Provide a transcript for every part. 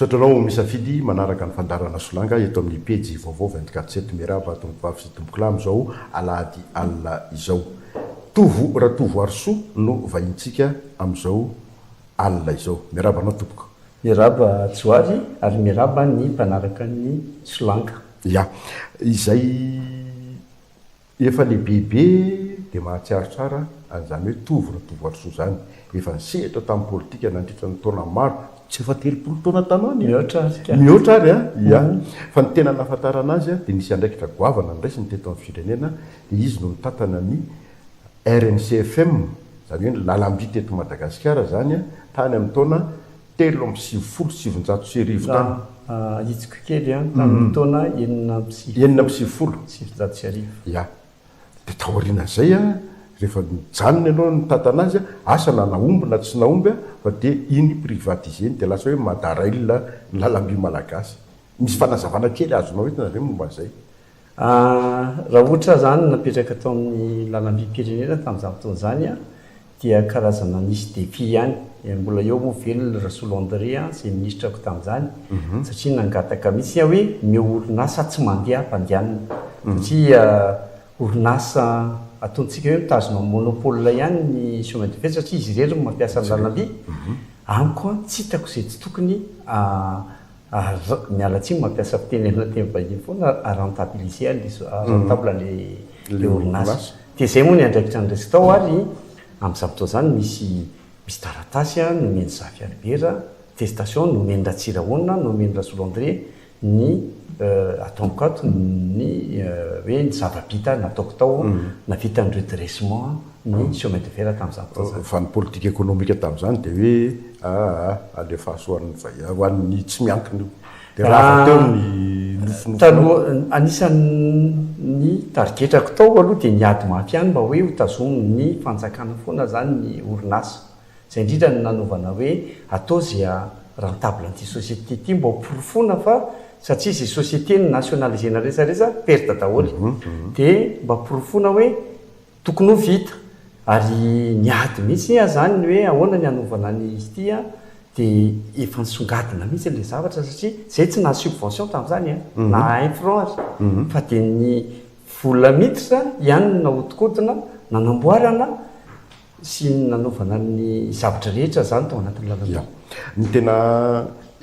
Misaotra anao misafidy manaraka ny fandaharana Solanga eto amin'ny pejy vaovao 24 sept. Miarahaba tompokvavy sy tompokolahy amin'izao alahady alina izao. Tovo Ratovoarisoa no vahintsika amin'izao alina izao. Miarahaba anao tompoko. Miarahaba Tsy ho avy ary miarahaba ny mpanaraka ny Solanka. Ya. Izay efa lehibebe dia mahatsiaro tsara an'izany hoe Tovo Ratovoarisoa izany. Efa nisehatra tamin'ny politika nandritra ny taona maro, tsy efa telopolo taona taloha anie? Mihoatra ary ka. Mihoatra ary an! Ya. Fa ny tena nahafantarana azy dia nisy andraikitra goavana noraisiny teto amin'ny firenena dia izy no mitantana ny rmc FM, izany hoe ny lalam-by teto Madagasikara izany an, tany amin'ny taona telo amby sivifolo sy sivinjato sy arivo tany. Ahitsiko kely an, tamin'ny taona enina amby sivifolo. Enina amby sivifolo. Sy sivinjato sy arivo. Ia. Dia taorian'izay an, rehefa nijanona ianao no nitantana azy an, asa na nahomby na tsy nahomby an, fa dia iny privatiser-ny dia lasa hoe Madarail ny lalam-by malagasy. Misy fanazavana kely azonao entina ve momba an'izay? Raha ohatra izany napetraka tao amin'ny lalam-bim-pirenena tamin'izany fotoana izany dia karazana nisy défi ihany. Mbola eo moa ve ny Rasolo André izay minisitra tamin'izany satria nangataka mihitsy aho hoe omeo orinasa tsy mandeha hampandehanana satria orinasa ataontsika hoe mitazona ny monopole ihany ny chemin de fer satria izy irery no mampiasa ny lalam-by. Amiko tsy hitako izay tsy tokony Ar, miala tsiny mampiasa fiteny amina teny vahiny foana a rentabiliser an le so, a rentable le le orinasa. Dia izay moa ny andraikitra ny resy tao ary amin'izany fotoana izany misy misy taratasy a nomen'i Zafy Albert a, attestation nomen'i Ratsirahonina, nomen'i Rasolo André ny e ataoniko ato ny e hoe ny zava-bita nataoko tao na vitan'ny redressement a. ny chômage de fer tamin'izany fotoana izany. Fa ny politika ekonomika tamin'izany dia hoe aa alefaso ho an'ny vahiny, ho an'ny tsy miankina io. Dia rava teo ny nofinofinao. Anisan'ny tarigetrako tao aloha dia ny ady mafy ihany mba hoe hotazomin'ny fanjakana foana izany ny orinasa. Izay indrindra no nanaovana hoe atao izay ha rentable an'ity société ity mba hoporofoina fa satria izay société no nationalisena resaresa perte daholo. Dia mba porofoina hoe. Tokony ho vita, ary niady mihitsy aho izany ny hoe ahoana ny hanovana ny ity an, dia efa nisongadina mihitsy ilay zavatra satria izay tsy naha subvention tamin'izany an, naha un franc aza, fa dia ny vola miditra ihany no nahodikodina nanamboarana sy ny nanovana ny zavatra rehetra izany tao anatin'ny lalana. Ny tena.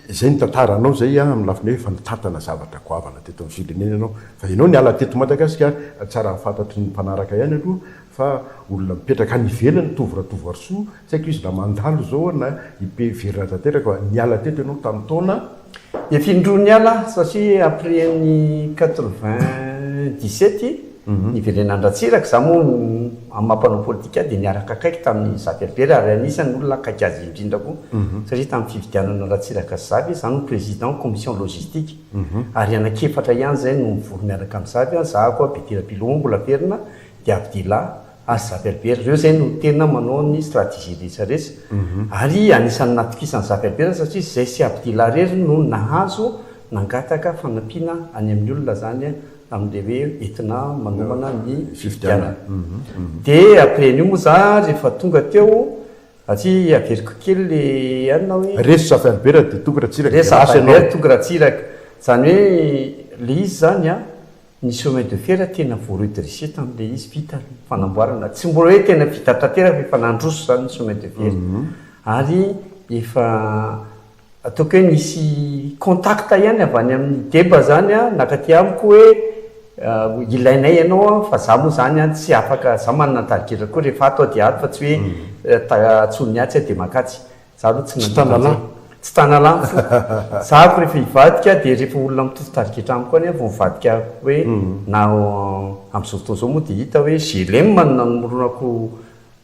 Izay ny tantara anao izay amin'ny lafiny hoe efa nitantana zavatra goavana teto amin'ny firenena ianao fa ianao niala teto Madagasikara, tsara fantatry ny mpanaraka ihany aloha fa olona mipetraka any ivelany Tovo Ratovoarisoa, tsy haiko izy raha mandalo izao na i P very raha tanteraka fa niala teto ianao tamin'ny taona. Efa indroa niala aho satria après ny quatre vingt dix sept. Niverenan Ratsiraka za moa amin'ny maha mpanao politika ahy dia niaraka akaiky tamin'i Za Berbera ary anisany olona akaiky azy indrindra koa satria tamin'ny fifidianana Ratsiraka sy Zavy za no président commission logistique ary anaky efatra ihany izay no mivory miaraka amin'i Zavy an, za koa Betera Piloha mbola velona dia Abdila ary Za Berbera ireo izay no tena manao ny stratégie rehetra rehetra ary anisany natokisan'i Za Berbera satria izay sy Abdila irery no nahazo nangataka fanampiana any amin'ny olona izany amin'ilay hoe entina manomana ny fifidianana. Dia après an'io moa za rehefa tonga teo, satria averiko kely ilay anona hoe. Resy Zafy-Albert dia Toky Ratsiraka dia lasa ianao. Resy Zafy-Albert, Toky Ratsiraka. Izany hoe ilay izy izany an, ny chemin de fer tena vao redresser tamin'ilay izy, vita ny fanamboarana. Tsy mbola hoe tena vita tanteraka fa efa nandroso izany ny chemin de fer. Ary efa. Ataoko hoe nisy contact ihany avy any amin'ny deba zany an, nakaty amiko hoe ilainay ianao an, fa za moa zany an tsy afaka, za manana tarigera koa rehefa ato aho dia ato fa tsy hoe antsoin'ny atsy aho dia mankatsy, za aloha tsy nandeha nandeha, tsy tanalahy ny foko, za ko rehefa hivadika dia rehefa olona mitovy tarigetra amiko any an vao mivadika hoe na amin'izao fotoana izao moa dia hita hoe GLM no namoronako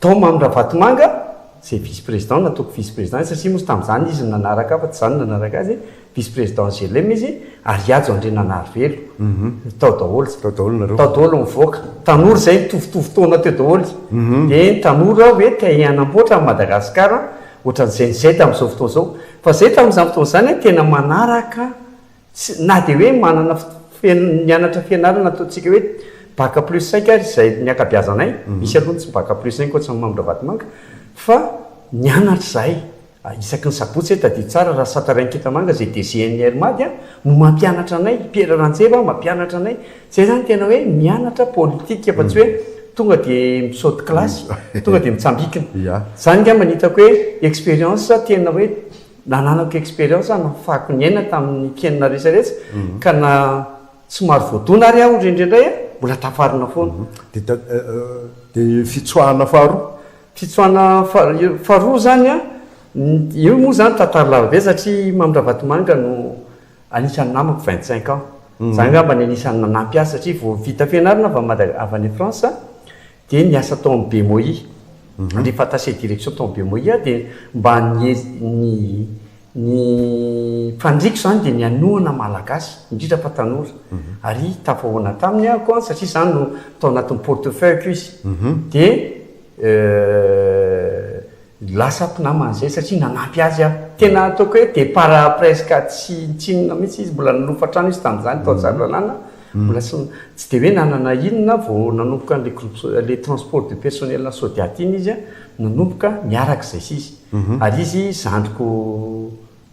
Tao Mamy Ravatomanga, izay vice président, nataoko vice président, satria moa izy tamin'izany izy no nanaraka ahy fa tsy izaho no nanaraka azy, vice président GLM izy, ary Hajo Andriananarivelo. Tao daholo. Tao daholo nareo. Tao daholo nivoaka. Tanora izay nitovitovy taona teo daholo. Dia ny tanora hoe te hanamboatra an'i Madagasikara ohatran'izay ny izay tamin'izao fotoana izao. Fa izay tamin'izany fotoana izany tena manaraka Tsy, na dia hoe manana fotoana mianatra fianarana ataontsika hoe bac plus cinq ary izay ny ankabiazanay, misy aloha ny tsy bac plus cinq ohatry ny Mamindra-Vatomanga, fa nianatra izahay isaky ny sabotsy e, tadidio tsara, Rasatarain-Kintamanga izay DGNR Mady a, no mampianatra anay, Pierre Ranjeva mampianatra anay, izay izany tena hoe mianatra politika fa tsy hoe tonga dia misaoty kilasy, tonga dia mitsambikina. Izany angamba no hitako hoe expérience tena hoe nananako expérience aho nafahako ny aina tamin'ny kenina resaretsa ka na somary voadona ary aho rendraindray a, mbola tafarina foana. Dia fitsoahana faharoa? Fitsoahana faharoa izany a, io moa izany tantara lavabe satria i Mamy Ravatomanga no anisan'ny namako vingt cinq ans. Izaho angamba no anisan'ny nanampy azy satria vao vita fianarana avy any France. Dia niasa tao amin'ny BMOI, alefa attaché direction tao amin'ny BMOI aho dia mba ny ny faniriako izany dia ny hanohana Malagasy, indrindra fa tanora. Ary tafahoana taminy ahako an, satria izaho no tao anatin'ny portefeuille-ko izy. Dia Lasa mpinamana izay satria nanampy azy aho. Tena ataoko hoe départ presque tsy nitsinona mihitsy izy, mbola nilofo hatrany izy tamin'izany tao Tsaralalàna, mbola tsy tsy dia hoe nanana inona vao nanomboka an'ilay groupe ilay transport du personnel an'i Sodiato iny izy nanomboka miaraka izay sisa. Ary izy zandriko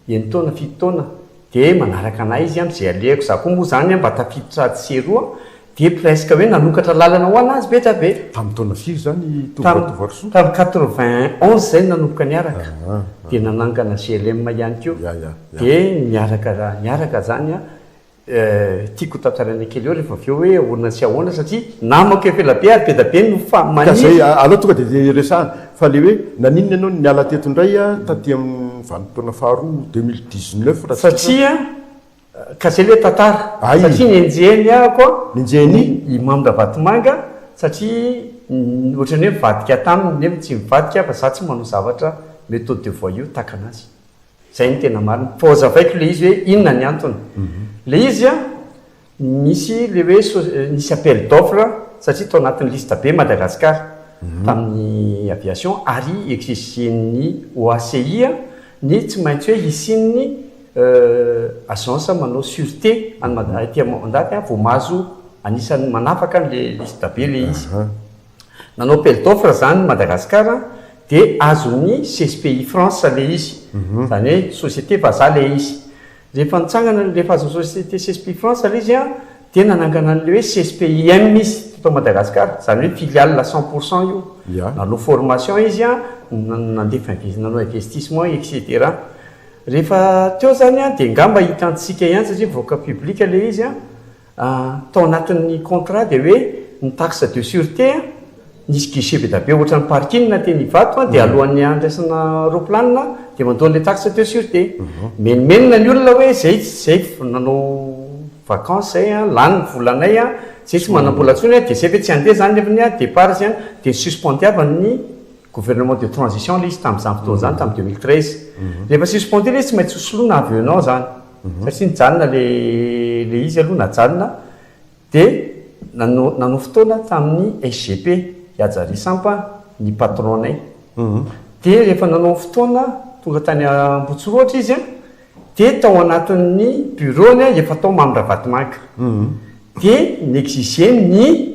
Eny taona fito taona dia manaraka anay izy an, izay alehako za koa moa izany an mba tafiditra atsy sy eroa an, dia presque hoe nanokatra lalana ho anazy be dra be. Tamin'ny taona firy izany Tovo Tovarisoa? Tamin'ny quatre vingt onze izay no nanomboka niaraka, dia nanangana GLM ihany koa, dia niaraka niaraka izany an. Tiako ho tantaraina kely eo rehefa avy eo hoe ahoana sy ahoana satria namako efa ela be ary be da be no fa maniry. Ka izay aleo tonga dia resahana fa ilay hoe naninona ianao no niala teto indray taty amin'ny vanim-potoana faharoa deux mille dix neuf raha tsy diso aho. Satria ka izay ilay tantara. Hay. Satria nenjehiny aho koa. Nenjehiny? I Mamy Ravatomanga satria ohatran'ny hoe nivadika taminy nefa tsy nivadika fa izaho tsy manao zavatra méthode de voyou tahaka an'azy. Zay no tena marina. Fa ozavaiko le izy hoe inona ny antony. Le izy an, misy le hoe nisy appel d'offre satria tao anatin'ny liste be Madagascar tamin'ny aviation ary exigen'ny OACI an, ny tsy maintsy hoe hisian'ny agence manao surete any Mada, aty am, ndaty an, vao mahazo anisan'ny manafaka an'le liste be le izy. Nanao appel d'offre zany Madagascar dia azon'ny CSPI France le izy, zany hoe société vazaha le izy. Rehefa nitsangana rehefa azon'ny société CSPI France le izy an dia nanangana an'le hoe CSPIM izy teto Madagascar, zany hoe filiale cent pour cent io. Nanao formation izy an, nandefa invest, nanao investissement etc. Rehefa teo zany an dia ngamba hitantsika ihany satria mivoaka public le izy an. Tao anatin'ny contrat dia hoe ny taxe de surete an, nisy guichet be dia be ohatran'ny parking teny Ivato dia alohan'ny handraisana roplanina dia mandoa an'ilay taxe de surete. Mimenomenona ny olona hoe zay zay nanao vacances zay an, lany ny volanay an, zay tsy manambola intsony an, dia zay ve tsy handeha zany ny depart zany dia ny suspendiava ny Gouvernement de transition ilay izy tamin'izany fotoana izany, tamin'ny deux mille treize. Rehefa suspendue ilay izy, tsy maintsy hosoloina avy un an izany. Satria nijanona ilay ilay izy aloha, najanona. Dia nano- nanohy fotoana tamin'ny SGP, Ihaja Risampa, ny patron-nay. Dia rehefa nanohy fotoana, tonga tany Ambohitsorohitra izy an, dia tao anatin'ny bureau-ny an, efa tao Mamy Ravatomanga. Dia ni-exiger ny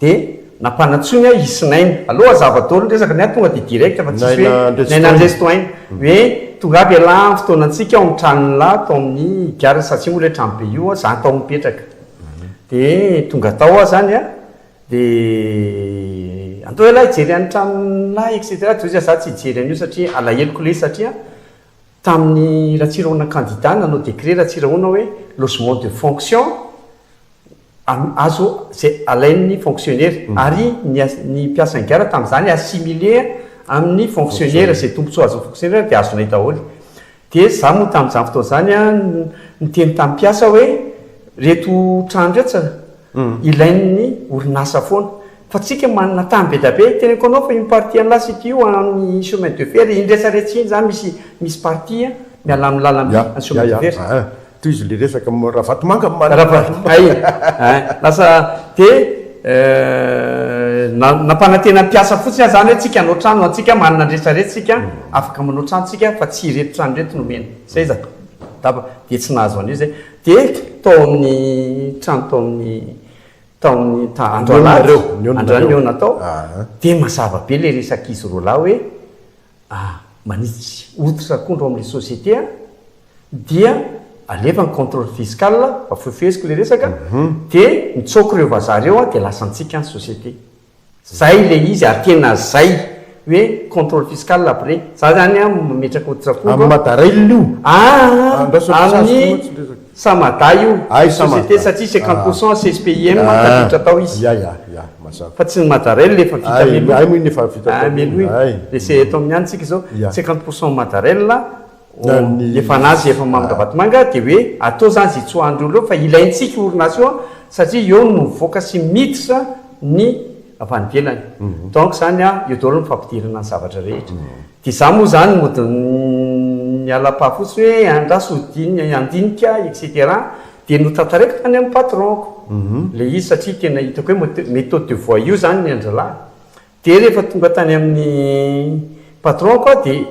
Dia nampanantsoiny ahy hisy Naina. Aleo hazava daholo ny resaka ny ahy tonga dia direct fa tsisy hoe Naina Andresitohaina. Hoe tonga aby ialahy amin'ny fotoanantsika ao amin'ny tranon'lah tao amin'ny gare satria moa ilay trano be io za no tao mipetraka. Dia tonga tao aho izany an, dia andao ialahy hijery an'ny tranon'lah etc. Dia hoy izy za tsy hijery an'io satria alaheloko ilay izy satria Tamin'i Ratsirahona kandida nanao décret Ratsirahona hoe logement de fonction azo izay alain'ny fonctionnaire ary ny mpiasa ny gara tamin'izany assimilé amin'ny fonctionnaire izay tombontsoa azon'ny fonctionnaire dia azonay daholo dia izaho moa tamin'izany fotoana izany niteny tamin'ny mpiasa hoe reto trano reto ilain'ny orinasa foana. Fa tsika manana tany be dia be, teneniko anao fa iny partie an'la site io any chemin de fer iny retsaretsy iny zany misy misy partie an miala amin'ny lalamby any chemin de fer zany. Tohizo le resaka am ravatomanga am malala. Ravatomanga iny a lasa de nampanantena ny mpiasa fotsiny aza zany hoe tsika hanao trano antsika manana ny retsaretsy tsika afaka manao trano tsika fa tsy ireto trano ireto no omena seza, taba, de tsy nahazo an'io zay. Dia tao amin'ny trano tao amin'ny tao amin'ny ta- andro Nihaona alahady, nareo, nihaona androany nareo. nihaona tao, Aha. dia mazava be ilay resak'izy roa lahy hoe ah, manitsy hoditra akondro ao amin'ilay société aho, dia alefa ny contrôle fiscal, fa fohifeheziko ilay resaka, dia nitsoaka ireo vazaha ireo aho dia lasa nitsiaka ny société. Zay le izy ary tena zay hoe contrôle fiscal après za zany an mametraka otrako Am mada rail io? Aa aminy samada io société satria cinquante pour cent CSPIM tafiditra tao izy Ya ya ya mazava fa tsy ny mada rail le efa vita meloa Ay moa iny efa vita meloa iny le eto aminy ihany tsika zao cinquante pour cent mada rail ny efa nazy efa mamy Ravatomanga dia hoe atao izany izay tsy ho an'ireo ireo fa ilaintsika io orinasa io satria eo no mivoaka sy miditra ny avy any ivelany donc izany eo daholo ny fampidirana ny zavatra rehetra dia izaho moa izany mody miala pas fotsiny hoe andraso hodino handinika etc dia notantareko tany amin'ny patron-ko ilay izy satria tena hitako hoe mety méthode de voie io izany ny an-drahalahy dia rehefa tonga tany amin'ny patron-ko aho dia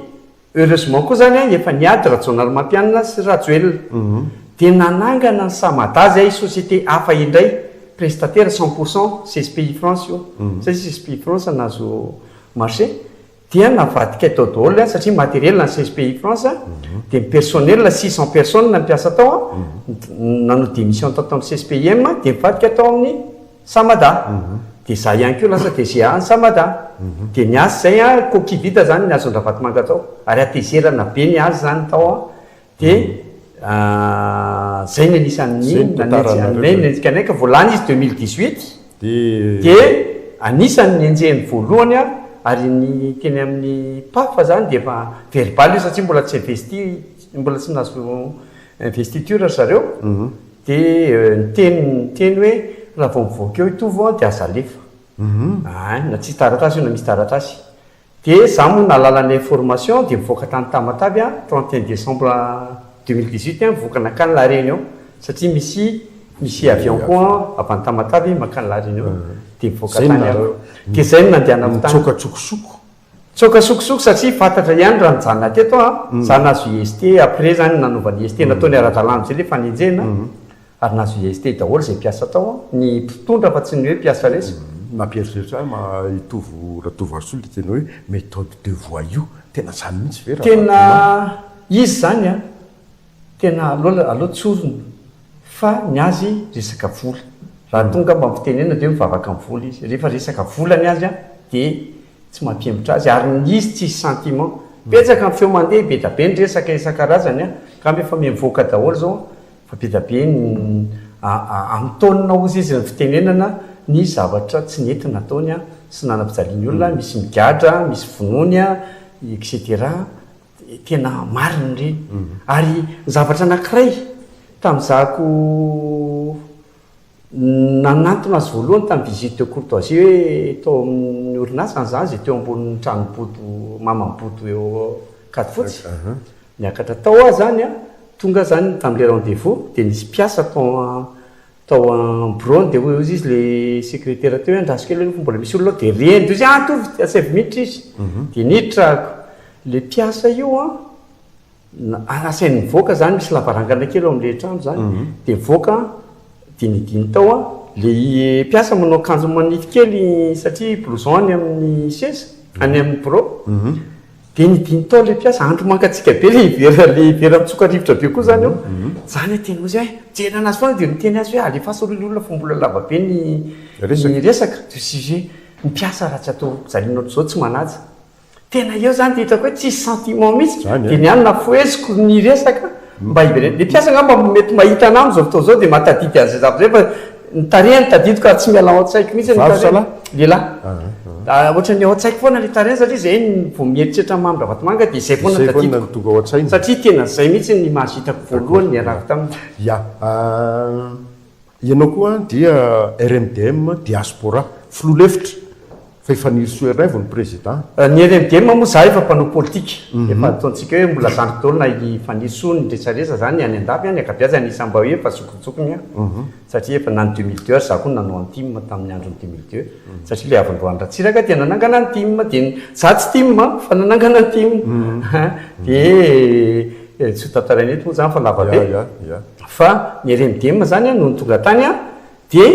Heureusement koa zany efa niady Rajaonarimampianina sy Rajoelina dia nanangana ny Samada zay société hafa indray prestatera cent pour cent CSPI France io zay CSPI France nahazo marché dia navadikay tao daholo ny satria matériel an'i CSPI France dia ny personnel six cent personnes mpiasa tao nanao démission tao tamin'ny CSPIM dia nivadika tao amin'ny Sa Mada? Dia za ihany koa lasa DG any sa Mada? Dia ny azy izay an, coquille vide izany ny hazon-dRavatomanga tao, ary hatezerana be ny azy izany tao an, dia izay ny anisan'ny nanenjika anay ka vao lany izy deux mille dix huit, dia anisan'ny nenjehiny voalohany an, ary ny teny amin'ny Paf izany dia efa verbal io satria mbola tsy investit, mbola tsy nahazo. Investiture ry zareo, dia niteny niteny hoe raha vao mivoaka eo i Tovo an dia aza alefa. Ahy, na tsisy taratasy io na misy taratasy. Dia izaho moa nahalala ny information dia nivoaka tany Tamatave an, trente et un décembre deux mille dix huit an, mivoaka nankany La Réunion, satria misy misy avion koa an avy any Tamatave mankany La Réunion, dia nivoaka tany aho. Dia izay no nandehanako tany. Nitsoaka an-tsokosoko. Tsoaka sokosoko satria fantatra ihany raha nijanona teto aho an, za nahazo IST après zany nanova ny IST nataony ara-dalàna amzay le fanenjehana ary nahazo IST daholo zay mpiasa tao an, ny mpitondra fa tsy ny hoe mpiasa resy. Nampieritreritra ahy ma Itovo Ratovoarisoa le teny hoe méthode de voyou, tena zany mihitsy ve raha vaky volo an? Tena izy zany an! Tena aleo aleo tsorina fa ny azy resaka vola. Raha tonga mba ampitenenina dia hoe mivavaka amin'ny vola izy. Rehefa resaka vola ny azy dia tsy mampihemotra azy ary ny izy tsisy sentiment. Betsaka ny feo mandeha, be dia be ny resaka isan-karazany an! Angamba efa mivoaka daholo izao an! Fa be dia be ny amintaonina hozy izy ny fitenenana ny zavatra tsy nety nataony sy nanam-pijaliany olona, misy migadra, misy vonoiny an! Etc. Tena marina ireny. Ary ny zavatra anankiray, tamin'izahako nanantona azy voalohany tamin'ny visite de courtoisie hoe tao amin'ny orinasany izaho, izay teo ambonin'ny trano bodo, maman'i bodo eo Ankadifotsy, niakatra tao aho izany an, tonga aho izany tamin'ilay rendez-vous dia nisy mpiasa tao an, Tao am-biraony dia hoy hozy izy ilay sekretera teo hoe andraso kely aloha fa mbola misy olona ao dia reny dia hozy ah to vita saivo minitra izy dia niditra ako. Ilay mpiasa io an, na asainy mivoaka izany, misy lavarangana kely ao amin'ilay trano izany, dia nivoaka an, dinidiny tao an, ilay mpiasa manao akanjo manify kely satria blouson any amin'ny seza, any amin'ny birao, Dia ny dimy taona ilay mpiasa, andro mangatsiaka be ilay vera, ilay vera mitsoka rivotra be koa izany eo. Izany no tena hoe izay, mijery an'azy foana dia miteny azy hoe alefaso aloha ilay olona fa mbola lava be ny ny resaka, du sujet. Ny mpiasa raha tsy atao fijaliana ohatr'izao tsy manaja. Tena eo izany dia hitako hoe tsisy sentiment mihitsy. Dia ny ahy no nafoheziko ny resaka. Mba hiverenany. Ny mpiasa angamba mety mahita anah amin'izao fotoana izao dia mba tadidy an'izay zavatra izay fa ny tarehiny tadidiko ary tsy miala ao an-tsaiko mihitsy ny tarehiny. Vavy sa lahy? Lehilahy. Ahh ohatran'ny ao an-tsaiko foana ilay tarehiny satria izay vao mieritreritra an'i Mamy Ravatomanga dia izay foana tadidiko. Izay foana no tonga ao an-tsaina. Satria tena izay mihitsy ny image hitako voalohany niarahako taminy. Ya. Ianao koa dia RMDM diaspora. Filoha lefitra fa i Fanirisoa iray vao ny président. Ny RMDM moa za efa mpanao politika efa ataontsika hoe mbola zandry daholo na i Fanirisoa ny resadresa zany ny any andafy any ankabeazany isany mba hoe efa zokinjokiny an! satria efa na ny deux mille deux ary za koa nanao an tim tamin'ny andron'ny deux mille deux satria le havandroan'i Ratsiraka dia nanangana an tim dia za tsy tim an fa nanangana an tim an dia tsy ho tantaraina eto moa zany fa lava be. Fa ny RMDM zany an nony tonga tany an de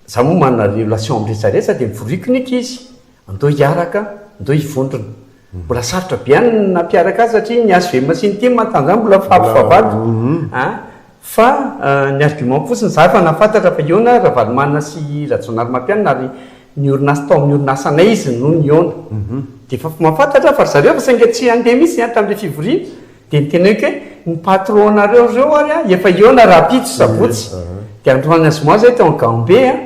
za moa manana relation am retraretra de mivoriko ny ankizy andao hiaraka andao hivondrona mbola sarotra be any ny nampiaraka azy satria ny HVM sy ny tim an tanzany mbola fabo vavado an fa ny argument fotsiny za efa nahafantatra fa hihaona Ravalomanana sy Rajaonarimampianina ary niorina tao amin'ny orinasanay izy no nihaona de efa mahafantatra fa ry zareo fa saingy tsy handeha mihitsy an tamin'ilay fivoriana Dia niteneniko hoe, ny patron nareo ireo ary an, efa hihaona rahampitso, sabotsy, dia androany na zoma izahay teo amin'ny Gambe an,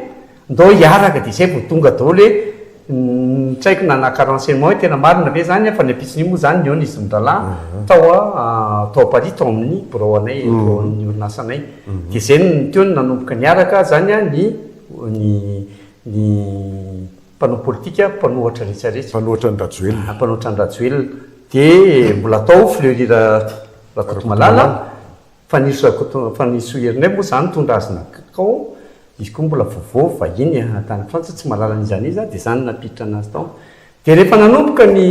ndao hiaraka, dia izay vao tonga daholo hoe, ny traiko nanaka renseignement hoe tena marina ve izany an, fa ny ampitson'io moa izany nihaona izy mirahalahy tao an, tao Paris, tao amin'ny birao anay, biraon'ny orinasanay. Dia izay no teo no nanomboka niaraka izany an, ny, ny, ny. Mpanao politika, mpanohatra rehetrarehetra. Mpanohatra an'i Rajoelina. Mpanohatra an'i Rajoelina. Dia mbola atao fleurir Rakotomalala. Fanirisoa Rakoto, Fanirisoa Herinay moa izany nitondra azy nankao. Izy koa mbola vaovao, vahiny tany Frantsa, tsy mahalala an'iza an'iza. Dia izany no nampiditra anazy tao. Dia rehefa nanomboka ny,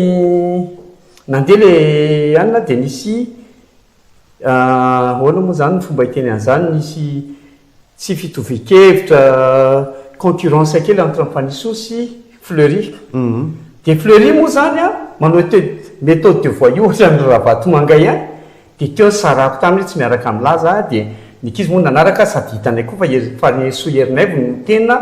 nandeha ilay anona dia nisy, ahoana moa izany ny fomba hiteny an'izany, nisy Tsy fitovian-kevitra, concurrence kely entre an'i Fannisoa sy Fleury. Dia Fleury moa izany an, manao te- méthode de voyou ohatran'ny ry Ravatomanga ihany, dia teo ny sarahako taminy hoe tsy miaraka milaza aho, dia ny ankizy moa nanaraka azy sady hitanay koa fa i Fannisoa Erinaivo no tena.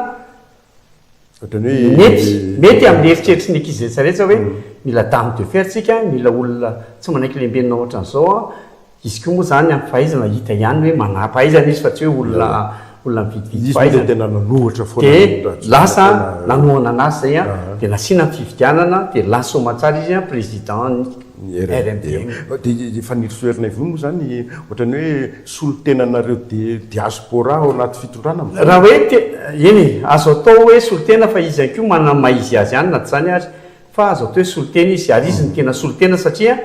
Ohatran'ny hoe Mety, mety amin'ny eritreritry ny ankizy rehetra rehetra hoe mila dame de fer tsika, mila olona tsy manankilembenina ohatran'izao an, izy koa moa izany ampifahaizana hita ihany hoe manampahaizana izy fa tsy hoe olona, olona mividy vidy fahaizana. Izy moa dia tena nanohatra foana ny Rajoelina. Dia lasa nanohana an'azy izay an, dia nasiana ny fifidianana, dia lasa soamantsara izy an, président ny. ny RMDM. Dia efa nirosoherina invono moa izany ohatran'ny hoe solontenanareo diaspora ao anaty fitondrana amin'izao? Raha hoe te, eny e, azo atao hoe solontena fa izy ihany koa manana ny maha izy azy ihany na tsy izany ary fa azo atao hoe solontena izy ary izy no tena solontena satria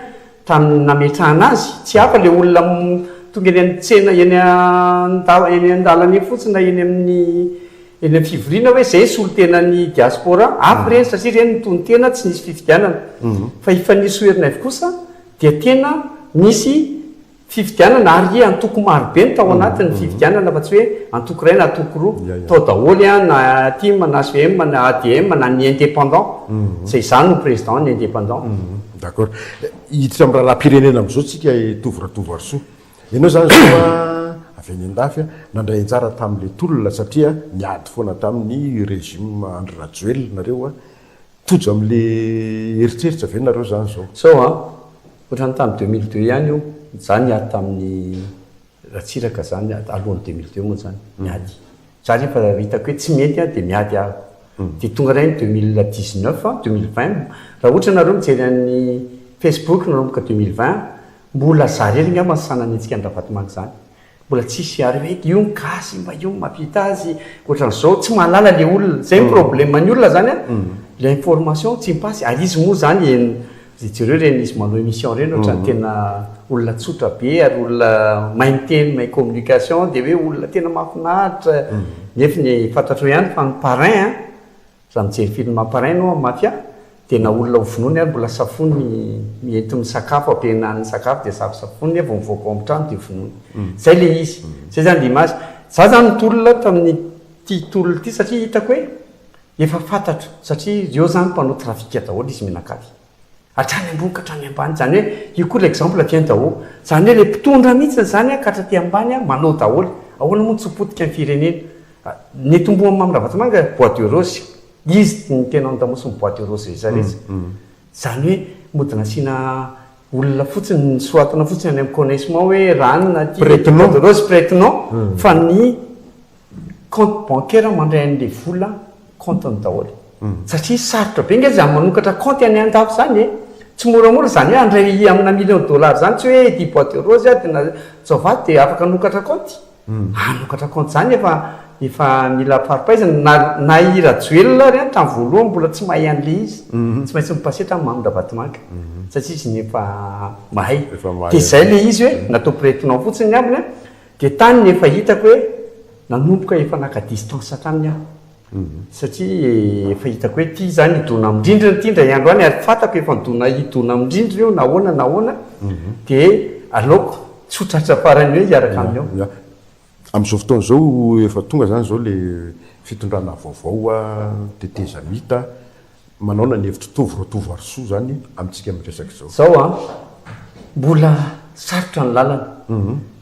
tamin'ny nametrahana azy, tsy hafa ilay olona tonga eny amin'ny tsena, eny an-dalana eny fotsiny na eny amin'ny. Eny amin'ny fivoriana hoe izay solontenan'ny diaspora, ampy ireny satria ireny no tonon-tena, tsy nisy fifidianana. Fa hifanio sy ho herinaivo kosa dia tena nisy fifidianana ary antoko marobe no tao anatin'ny fifidianana fa tsy hoe antoko iray na antoko roa. Tao daholo an, na tim, na HVM, na ADM, na ny indépendant, izay izaho no président ny indépendant. D'accord. Hiditra amin'ny raharahampirenena amin'izao tsika Tovo Ratovoarisoa. Ianao izany izao a, avy any an-dafy a, nandray anjara tamin'ilay tolona satria niady foana tamin'ny régime Andry Rajoelina nareo a, tojo amin'ilay eritreritra ve nareo izany izao? Izao a, ohatran'ny tamin'ny deux mille deux ihany io, izaho niady tamin'ny Ratsiraka izany, alohan'ny deux mille deux moa izany, niady. Izaho rehefa hitako hoe tsy mety an, dia miady aho. Dia tonga indray ny deux mille dix neuf, deux mille vingt, raha ohatra ianareo mijery an'ny Facebook nanomboka deux mille vingt, Mbola za rery ngamba ny sanany hetsika ny Ravatomanga izany. Mbola tsisy ary hoe io ny gasy, mba io ny mahavita azy, ohatran'izao, tsy mahalala ilay olona. Izay ny problème-n'ny olona izany an! Ilay information tsy mi-passe. Ary izy moa izany en, ze jereo ireny izy manao émission ireny ohatran'ny tena olona tsotra be ary olona mahay miteny, mahay communication dia hoe olona tena mahafinaritra, nefiny fantatrao ihany fa ny parrain an! Raha mijery film Amparay anao amin'ny mafia, dia na olona ho vonoiny ary mbola safoiny miento ny sakafo, ampihenany ny sakafo dia safosafoiny dia vao mivoaka ao amin'ny trano dia vonoiny. Izay ilay izy. Izay izany ilay image. Izaho izany nitolona tamin'ity tolona ity satria hitako hoe efa fantatro satria ireo izany mpanao trafic daholo izy mianakavy. Hatrany ambony ka hatrany ambany. Izany hoe, io koa l'exemple vient d'en haut. Izany hoe, ilay mpitondra mihitsy izany ka hatraty ambany manao daholo. Ahoana moa no tsy ho potika ny firenena? Ny eto Ambohimaha Mamy Ravatomanga, bois de rose. Izy no tena ao an-damosiny bois de rose rehetra rehetra. Izany hoe, mody nasiana olona fotsiny, nosoratana fotsiny any amin'ny connaissement hoe, ranona aty, bois de rose, prête-nom, fa ny compte bancaire mandray anle vola compte ny daholo satria sarotra be nge zany manokatra compte any andafy zany e tsy moramora zany hoe handray amina million dollars zany tsy hoe ety bois de rose aho de na tsaovato de afaka hanokatra compte hanokatra compte zany efa efa mila faripaizana na na i rajoelina ary an tam voalohany mbola tsy mahay anle izy tsy maintsy mipasetra am mamy ravatomanga satria izy efa mahay de zay le izy hoe natao pretinant fotsiny ny ambiny an Dia tany no efa hitako hoe nanomboka efa naka distance hatrany aho. Satria efa hitako hoe ity izany hidona amin-drindrina ity indray andro any, ary fantako efa nidona hidona amin-drindrina io nahoana nahoana, dia aleoko tsy ho tratra faran'ny hoe hiaraka aminy eo. Ya. Amin'izao fotoana izao efa tonga izany izao ilay fitondrana vaovao tetezamita, Manaona ny hevitry Tovo Ratovoarisoa zany amintsika miresaka izao. Zao an! Mbola sarotra ny lalana.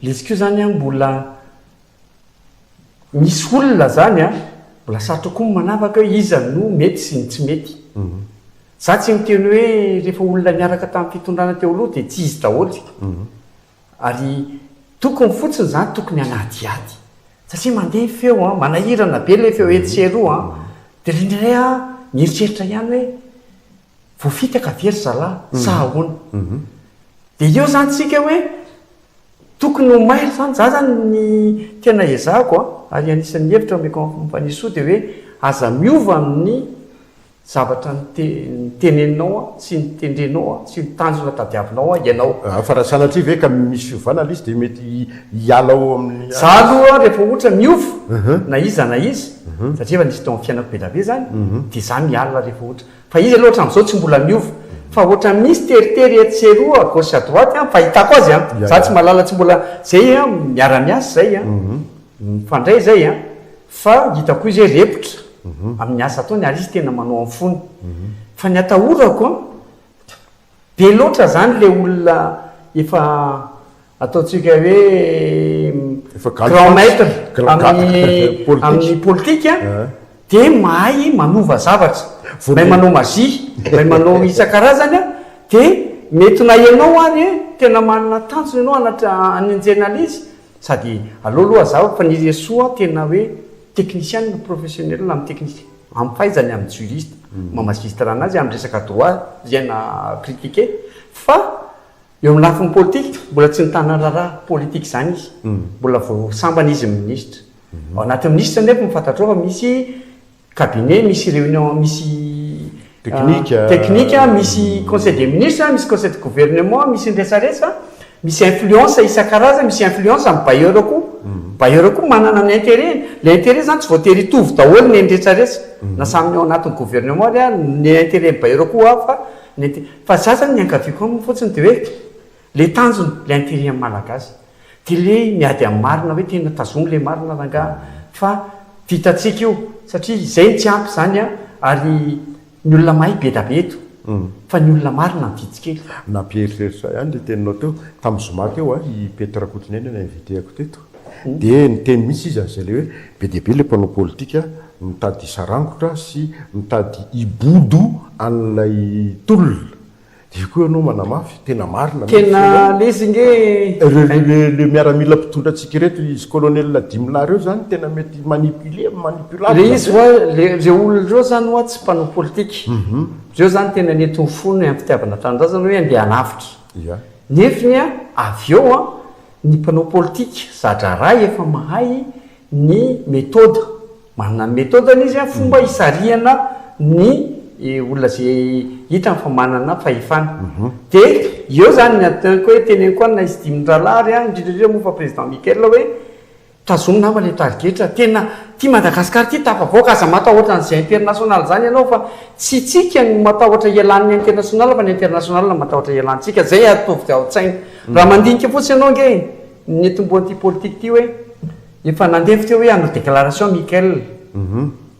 Le izy ko zany an mbola misy olona zany an mbola sarotra koa ny manavaka hoe iza no mety sy ny tsy mety. Za tsy miteny hoe refa olona niaraka tam fitondrana teo aloha de tsy izy daholo. Ary tokony fotsiny izany tokony hanadihady. Satria mandeha ny feo an, manahirana be ilay feo etsy sy eroa an, dia ilay indray aho mieritreritra ihany hoe voafitaka ve ry zalahy sa ahoana? Dia eo izany tsika hoe tokony ho maire izany, za izany ny tena ezahako an, ary anisan'ny hevitra omeko an'i Fanirisoa dia hoe aza miova amin'ny Zavatra niteneninao aho, tsy nitendrenao aho, tsy ny tanjona tadiavinao aho ianao. Fa raha sanatria ve ka misy fiovana ilay izy dia mety hiala ao amin'ny. Izaho aloha rehefa ohatra miova na iza na iza, satria efa nisy teo amin'ny fiainako be dia be izany, dia izaho miala rehefa ohatra. Fa izy aloha hatramin'izao tsy mbola miova. Fa ohatra misy teritery etsy sy eroa, à gauche à droite, ny fahitako azy an! Izaho tsy mahalala, tsy mbola, izay an, miara-miasa izay an, mifandray izay an, Fa hitako koa izy hoe repotra amin'ny asa ataony ary izy tena manao amin'ny fony. Fa ny atahorako an, be loatra izany ilay olona efa ataontsika hoe grand maitre amin'ny politika dia mahay manova zavatra, mahay manao magie, mahay manao isan-karazany an, dia mety na ianao ary tena manana tanjona ianao hanenjehana an'izy, Sady aleo aloha hazava fa ny Ressoa tena hoe technician professionnel amin'ny technique, amin'ny fahaizany amin'ny juriste maha magistrat anazy amin'ny resaka droit zay na critiquer fa eo amin'ny lafiny politique mbola tsy mitana raharaha politique zany izy, mbola vao sambany izy minisitra. Ao anatin'ny minisitra nefa fantatrao fa misy cabinet misy réunion misy Technique, technique, misy conseil des ministres, misy conseil de gouvernement, misy ny resaresa, misy influence isan-karazany, misy influence amin'ny bailleur koa. Bailleur koa manana ny intérêt-ny. Ilay intérêt izany tsy voatery hitovy daholo ny an'ny resaresa, na samy ao anatin'ny gouvernement ary, ny intérêt-n'ny bailleur koa hafa, ny inté, fa za izany ny iangaviako aminy fotsiny dia hoe, Le tanjona le intérêt an'ny malagasy de le miady amin'ny marina hoe tena tazogno le marina rangaha fa vitantsika io satria izay no tsy ampy izany an ary ny olona mahay bedabe eto fa ny olona marina no vitsy kely. Nampieritreritra ahy ihany le teninao teo, tamin'ny zoma teo an, i Pety Rakotonena no inviter-ko teto de niteny mihitsy izy an'izay le hoe be dia be le mpanao politika mitady sarangotra sy mitady hibodo an'ilay tolona Dia koa ianao manamafy, tena marina mihitsy Tena lesy ange Ireo le miaramila mpitondra antsika ireto, izy colonel dimy lahy ireo izany tena mety manipuler, manipulable Ilay izy hoa, ireo olona ireo zany hoa tsy mpanao politika. Ireo zany tena nety ho fona am fitiavana tanindrazana hoe andeha hanavotra. Ya. Nefny an, avy eo an, ny mpanao politika za-draharaha efa mahay ny methode. Manana ny metodany izy an, fomba hisarihana ny olona ze hitany fa manana fahefana. De eo zany ny antoniko hoe teneniko an izy dimy mirahalahy ary an, indrindra indrindra moa fa Président Michael hoe tazomy nama le tarigetra, tena ty Madagascar ty tafavoaka, aza matahoatra an'ze international zany ianao fa tsy tsika no matahotra hialan'ny international fa ny international no matahotra hialantsika, zay atovy ao tsaina. Raha mandinika fotsiny ianao ange ny tomboan'ity politique ty hoe Efa nandevy teo hoe hanao déclaration Michael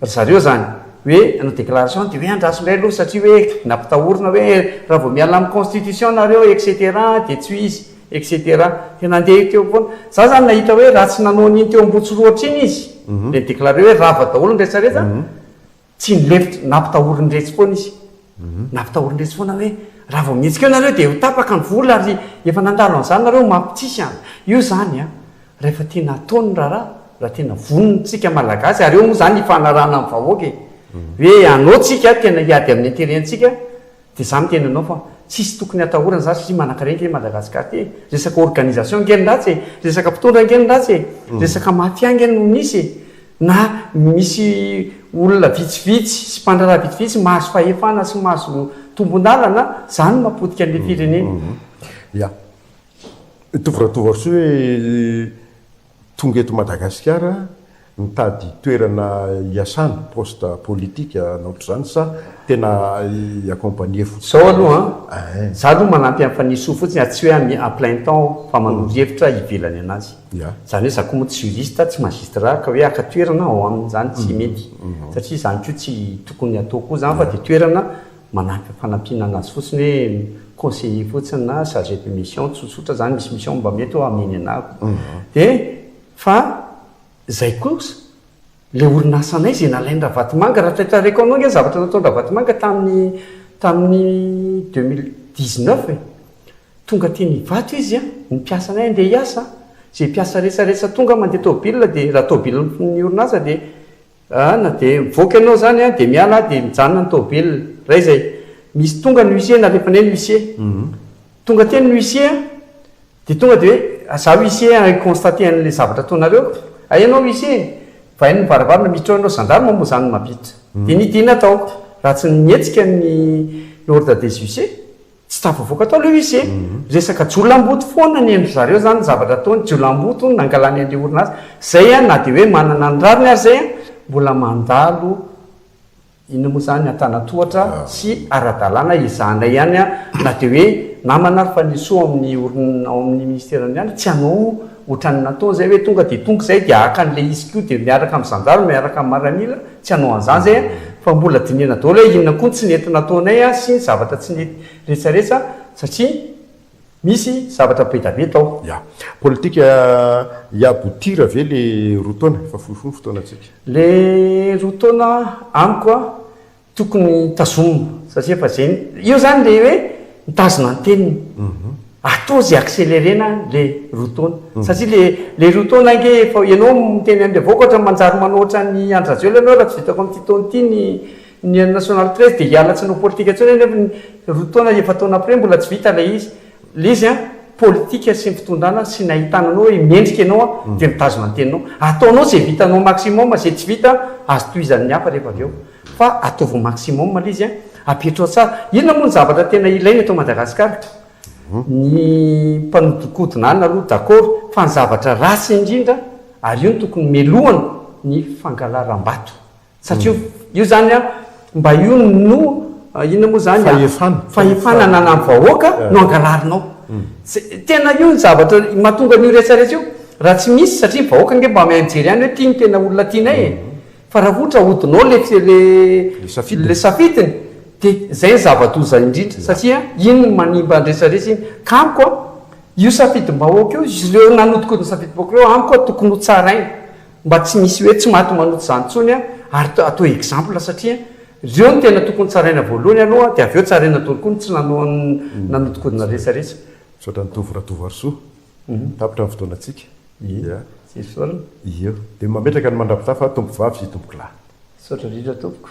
ry zareo zany hoe hanao déclaration de hoe andraso indray aloha satria hoe nampitahorina hoe raha vao miala amin'ny constitution nareo etc de tsy ho izy etc de nandeha teo foana za zany nahita hoe raha tsy nanao an'iny teo Ambohitsorohitra iny izy de ni-declare hoe rava daholo ny rehetra rehetra Tsy nilefitra, nampitahorin-dretsy foana izy. Nampitahorin-dretsy foana hoe, raha vao mihetsika eo nareo dia ho tapaka ny vola ary efa nandalo an'izany nareo omaly tsisy an! Io izany an! Rehefa tena atao ny raharaha, raha tena vonona isika Malagasy, ary eo moa izany hifanarahana amin'ny vahoaka e! Hoe anao tsika tena hiady amin'ny intérêt antsika, Dia za miteny anao fa tsisy tokony atahorana za satria manankarena nge Madagascar ty e! Resaka organisation nge ny ratsy e! Resaka mpitondra nge ny ratsy e! Resaka mafia nge no misy e! Na misy olona vitsivitsy sy mpandraharaha vitsivitsy mahazo fahefana sy mahazo tombondalana zany no mapotika anle firenena. Ya. Mitovy Ratovoarisoa hoe. Tonga eto Madagasikara nitady toerana hiasana, poste politique na ohatr'izany sa tena hi-accompagner fotsiny? Izao aloha an, za aloha manampy an'i Fanirisoa fotsiny a, tsy hoe ami à plein temps aho fa manoro hevitra ivelany anazy. Ya. Izany hoe za koa moa tsy juriste, tsy magistrat ka hoe haka toerana ao aminy izany tsy mety satria izany koa tsy tokony hatao koa izany fa dia toerana manahaka fanampiana anazy fotsiny hoe conseiller fotsiny na chargé de mission tsotsotra zany misy mission mba mety hoe hameno anah ko de fa zay kosa le orinasanay zay nalain Ravatomanga raha tratrareko anao nge zavatra nataon Ravatomanga taminy taminy deux mille dix neuf e tonga teny Ivato izy a ny mpiasanay andeha hiasa a zay mpiasa resaresatonga mande tôbila de raha tôbilan'ny orinasa de An, na dia mivoaka ianao izany an, dia miala aho dia mijanona ny tomobilina. Indray izay, misy tonga ny huissier, nalefanay ny huissier. Tonga teny ny huissier an, dia tonga dia hoe, izaho huissier an, hi-constater an'ilay zavatra ataonareo. Hay ianao huissier e! Vaino ny varavarana, mitroha anao gendarme moa izany mampiditra. Dia nidina tao, raha tsy ny mihetsika ny ordre des huissiers. Tsy tafavoaka tao ilay izy e! Resaka jiolamboto foana ny endry zareo zany ny zavatra ataony, jiolamboto hono nangalany an'ilay orinasa, zay an, na dia hoe manana ny rariny ary zay an, mbola mandalo inona moa zany antanatohatra sy aradalana ezahana ihany an, na dia hoe namana ary Fanirisoa ao amin'ny orin, ao amin'ny ministeran'ny ihany tsy hanao ohatran'ny nataony zay hoe tonga dia tonga izay dia haka an'ilay izy koa dia miaraka amin'ny zandary miaraka amin'ny maramila, Tsy hanao an'izany izay an! Fa mbola dinihana daholo hoe inona koa ny tsy nety nataonay an, sy ny zavatra tsy nety retsaretsa satria misy zavatra be da be tao. Ya. Politika hi-aboutir ve le roa taona? Efa fohy fohy ny fotoanantsika. Le roa taona amiko an, tokony tazomina satria efa zay, io zany le hoe mitazona ny teniny. Atao ze accélérena le roa taona satria le le roa taona ange efa ianao miteny anle vahoaka ohatra manjary manao ohatran'i Andry Rajoelina anao raha tsy vitako amin'ity taona ity ny ny national treize de hiala tsy hanao politika intsony ianao nefa ny roa taona efa taona après mbola tsy vita ilay izy le izy an politika sy ny fitondrana sy ny ahitana anao hoe mendrika ianao an de mitazona ny teninao ataonao ze vitanao maximum ze tsy vita azo tohizan'ny hafa rehefa avy eo Fa ataovy maximum aloha izy an! Apetraho tsara! Inona moa ny zavatra tena ilaina eto Madagasikara? Ny mpanodikodina anona aloha d'accord, fa ny zavatra ratsy indrindra, ary io no tokony melohana, ny fangalaram-bato. Satria io zany an, mba io no, inona moa zany, Fahefana. Fahefana ananan'ny vahoaka no angalarinao. Tena io no zavatra mahatonga an'io rehetra rehetra io. Raha tsy misy, satria vahoaka ange mba miha-mijery ihany hoe ty no tena olona tianay e! Fa raha ohatra ahodinao le le safidiny de zay ny zava-doza indrindra satria iny no manimba ny resaresa iny ka amiko a io safidim-bahoaka io izy ireo nanodikodina safidim-bahoaka ireo amiko a tokony ho tsaraina mba tsy misy hoe tsy maty manoto zany tsony a ary atao exemple satria reo no tena tokony tsaraina voalohany aloha de avy eo tsaraina dolo koa ny tsy nanao ny nanodikodina resaresa. Misaotra an'i Tovo Ratovoarisoa. Tapitra ny fotoanantsika. Ia. Tsy esorina. Ia. Dia mametraka ny mandrapitaha fa tompovavy sy tompokolahy. Misaotra indrindra tompoko.